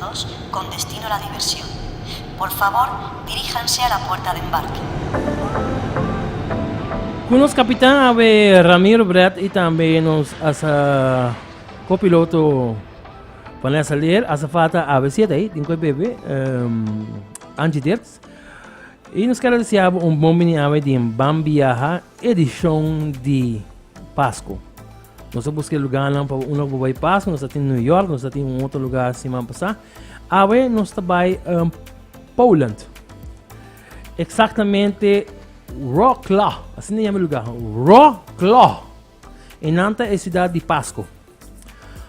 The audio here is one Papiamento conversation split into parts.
Nos con destino la diversión. Por favor, diríjanse a la puerta de embarque. Cu nos capitan awe Ramiro Bret y tambe nos asa copiloto Vanessa Leer, hace falta awe siete ahi, tin cu e bebe, Angie Dirks. Y nos quiero desear un bom bini awe di Bam Biaha edición di Pasco. Nos busca lugar lang pa uno bo bay Pasco, nos in New York, nos in un otro lugar semana pasada. Awe nos ta bay um, Poland. Exactamente Wroclaw. Así no llama lugar. Wroclaw. E nan ta e siudat di Pasco.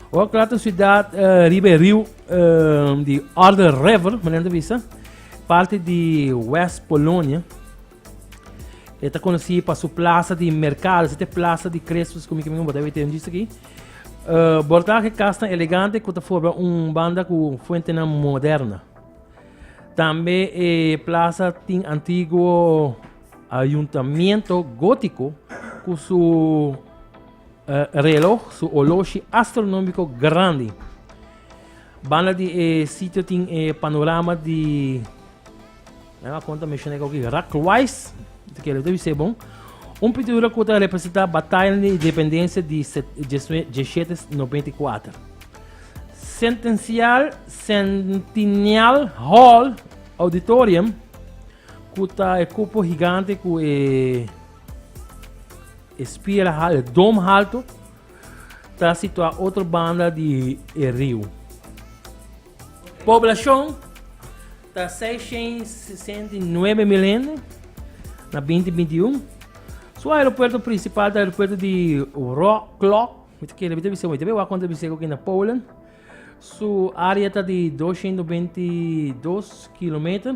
Ora ku lato siudat uh, riba e riu uh, di Oder River, manen ta bisa, parte di West Polonia. E ta konosi pa su plaza di mercado, sete plaza di Crestus, kumi kemi bota wete jis aki. Uh, borta ke kasta elegante ku ta forma un banda ku fuente na moderna. Tambe e plaza tin antiguo Ayuntamiento gótico cu su eh, reloj, su oloshi astronómico grande. Banda di e eh, sitio tin e eh, panorama di... Me va conta menciona que aquí Rackwise, que le debe ser bon. Un pintura que está representa batalla de independencia de 1794. Sentencial Centennial Hall Auditorium Ku ta e kupo higante ku e e spiera hal, e dom halto, ta situá otro banda di e riu. Poblashon ta seis shen sesenta i nuebe mil hende na binti binti i un. Su aeropuerto prinsipal ta aeropuerto di Wroclaw, mi ta kere mi ta bisa bo, mi ta be wak kon ta bisa e ku kende Poland. Su área ta di dos shen noventa i dos kilometer.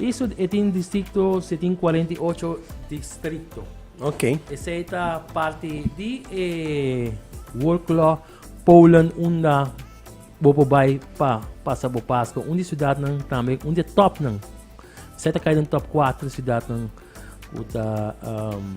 E sud e tin distrikto, se tin kuarenta i ocho distrikto. Ok. Esei ta parti di e World Law Poland unda bo por bai pa pasa bo Pasko. Un di siudatnan tambe, un di topnan. Esei ta kai den top 4 siudatnan ku ta um,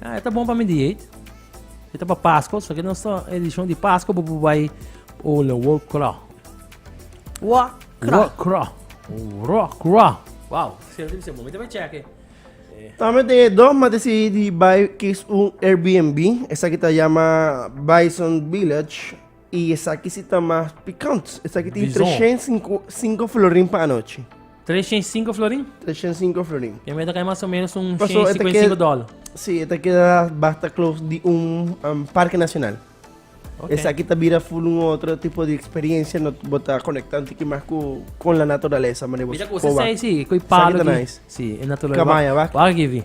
Ah, e ta bon pa mi di eet. E ta pa Pasko, so ke nos ta edishon di Pasko bo bo bai ole wo kra. Wo kra. Wo kra. Wo kra. Wow, se lo se momento me cheque. Tame te dom ma te si di bai kis un Airbnb, esa kita yama Bison Village. Y esaki si ta mas picant. Esaki tin 305 florin pa anochi. 305 florin? 305 florin. E meta kai mas o menos un 155 dólar. Sí, eta queda basta close di un um, parque nacional. Okay. Esa aquí tabira full un otro tipo de experiencia, no bota conectante que más con, con la naturaleza, mane vos. Mira cosa sei sí, coi palo aquí. Nice. Sí, é natureza. Cabaña, va. Vai que vi.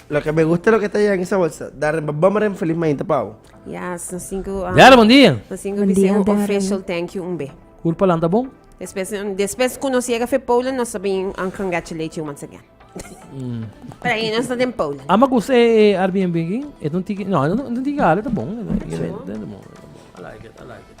Loke me gusta loke ta yen Samuel sa da riba bom rem feliz mainta pa awo. Yes, nos tin cu Diara bon dia. nos tin cu Buen día, dicen un Darren. official thank you un be. Culpa lan ta bon. Despues despues cu nos yega fe Poland nos ta bin and congratulate you once again. Pero ahí nos ta den Poland. Ama gusta e e Airbnb aquí. E ta un tiki. No, e ta un tiki ale ta bon. E ta e ta e ta bon. I like it, I like it.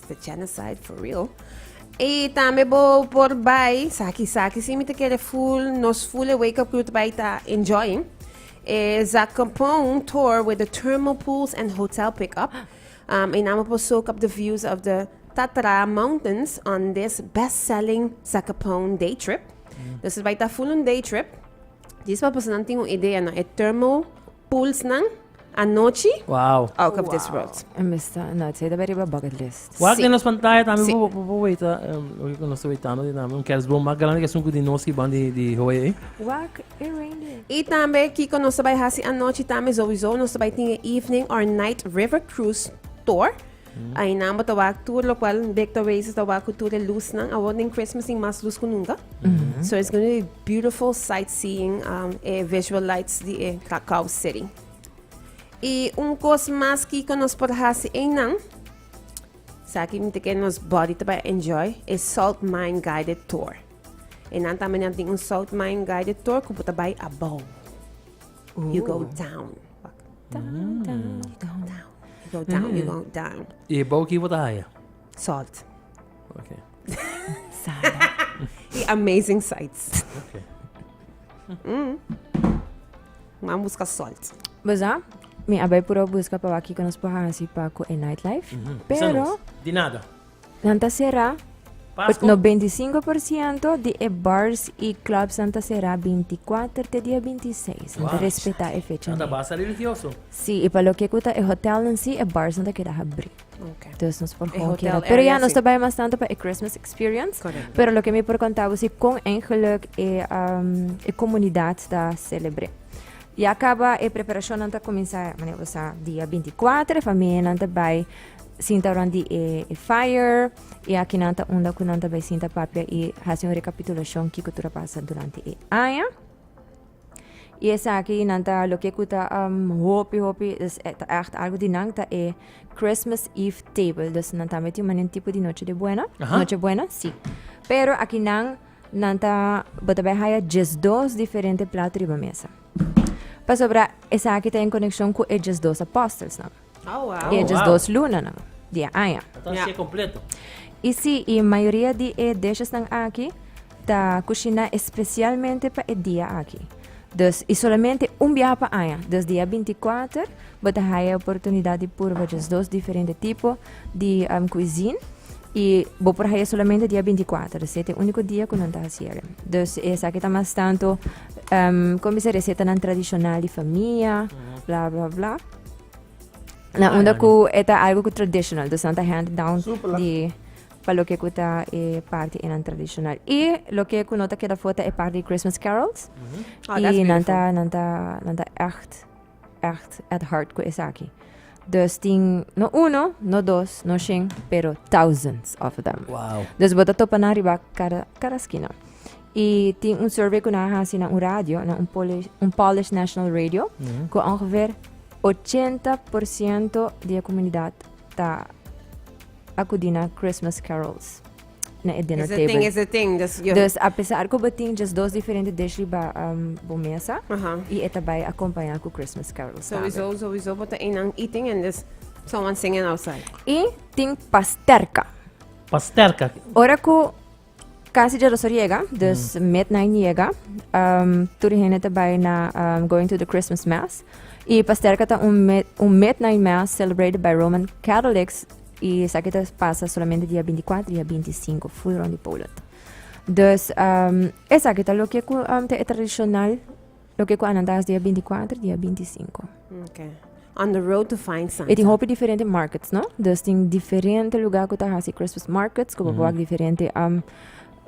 It's a genocide for real. Y tambe bo por bay, saki saki si mi te kere full, nos full e wake up crew te bay ta enjoying. E Zakapon tour with the thermal pools and hotel pick up. Um, y namo por soak up the views of the Tatra Mountains on this best selling Zakapon day trip. Dus het bay ta full un day trip. Dis pa personan tin un idea na e thermal Pools nan anochi Wow. out of this world. Wow. Mi sta anochi ta riba bucket list. Wak den nos pantaya tambe Sí. por por weta em hoy con nos wetando di tambe un kerstboom mas grande que sunku di nos ki ban di di hooi ei. Wak e reindeer. Y tambe kiko nos ta bay hasi anochi tambe sowieso nos ta bay tin e evening or night river cruise tour. Aynan bo ta wak tur lokual Victor Races ta wak ku tur e lusnan. Awor den Christmas tin mas lus ku nunka. So it's gonna be beautiful sightseeing um, e visual lights di e Cacao City. I un kos mas kiko nos por hasi aynan, saki mi te ke nos body ta bai enjoy, e salt mine guided tour. Aynan tambe nan tin un salt mine guided tour ku bo ta bai abou. You go down. Down, down, you go down. You go down, you go down. E bouki wat haya? Salt. Okay. E amazing sights. Okay. Mm. Mam busca salt. Baza, mi abai puro busca pa waki con nos pohasi pa co e nightlife. Mm -hmm. Pero... Di nada. Nan ta será, no binti sinku por siento di e bars i klòpsnan ta será binti kuater te dia binti seis. Nan ta respetá e fecha. Nan ta basta religioso. Sí, i pa loke ku ta e hotèlnan sí e barsnan ta keda habrí. Entonces nos por gewoon keda. Pero ya nos ta bai mas tantu pa e Christmas experience. Pero loke mi por konta bo si kon eigenlik e e komunidat ta selebr'é. Ya kaba e preparashonnan ta kuminsá, manera bo sa, dia binti kuater, e famianan ta bai sinta rond di e, e fire y aki nan ta unda cu nan ta bay sinta papia y haci un recapitulacion kico tur a pasa durante e aña. Y esaki nan ta lo que cu ta um, hopi hopi, dus e, ta echt algo di nan ta e Christmas Eve table. Dus nan ta meti un tipo di noche de buena, Aha. noche buena, sí. Pero aquí nan nan ta bota bay haya just dos diferente plato riba mesa. Pasobra esaki ta en conexión cu e just dos apostles nan. Oh, wow. E djes dos lunanan di e aña. Entonces, yeah. completo. Y sí, y mayoría di e dishesnan aki ta cocina especialmente pa e dia aki. Dus, y solamente un biaha pa aña. Dus dia 24, bo ta haya oportunidad di purba djes dos diferente tipo di um, cuisine. Y bo por haya solamente dia 24, dus este único dia que non ta hasiere. Dus es aquí ta mas tanto, um, como se recetanan tradicional di familia, bla bla bla. Na unda ku e ta algo ku traditional, dus nan ta hand down di pa lo ke ku ta e party enan traditional. I lo ke ku no ta keda for ta e party Christmas carols. Ah, that's I nan ta beautiful. nan ta nan ta echt echt at heart ku esaki. Dus tin no uno, no dos, no shen, pero thousands of them. Wow. Dus bo ta topa nan riba kada kada skina. I tin un survey ku nan a hasi na un radio, na un Polish, un Polish National Radio, ku ongeveer 80% di e komunidat ta akudi na Christmas carols na e dinner Is a table. thing, is a thing. Dus, yo, Dus a pesar ku bo tin just dos diferente dish riba um, bo mesa, Aha. i e ta bai akompañá ku Christmas carols tambe. sowieso, sowieso, bo ta in ang eating and there's someone singing outside. I tin pasterka. Pasterka. Ora ku Casi de rosa riega, dus mm. met nine riega. Um, tur hene te bai na um, going to the Christmas mass. I paster ka ta un met, un met nine mass celebrated by Roman Catholics. I saki te pasa solamente dia 24, dia 25, full round di Poland. Dus um, esa kita lo que um, te tradicional Loke ku a nan das dia binti kuater, dia binti sinku. Okay. On the road to find something. E tin hopi diferente markets, no? Dus tin diferente lugar ku ta hasi Christmas markets, ku mm. diferente um,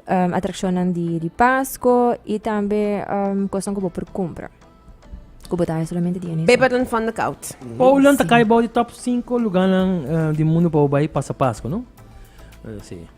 um, atrakshonnan di, di Pasko i tambe um, kosnan ku bo por kumpra. Ku bo ta hasi solamente di ene. Beberton van de Kout. Mm. Poland ta kai bou di top 5 lugarnan uh, di mundo pa bo bai pasa Pasko, no? Uh, sí.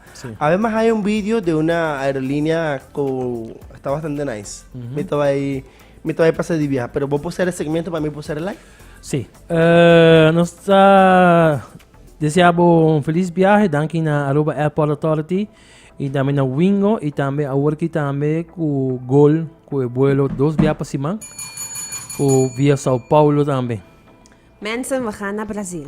Awe mi a haña un bidio den una aerolinea ku a ta bastante nice. Mi ta bai mi ta bai pasa di biaha, pero bo por sera e segmento pa mi por sera el ai? Sí. nos ta desea bo un feliz biahe. Danki na Aruba Airport Authority i tambe na Wingo i tambe aworki tambe ku Gol ku e buelo dos bia pa siman ku via Sao Paulo tambe. Mensen, we ga na Brazil.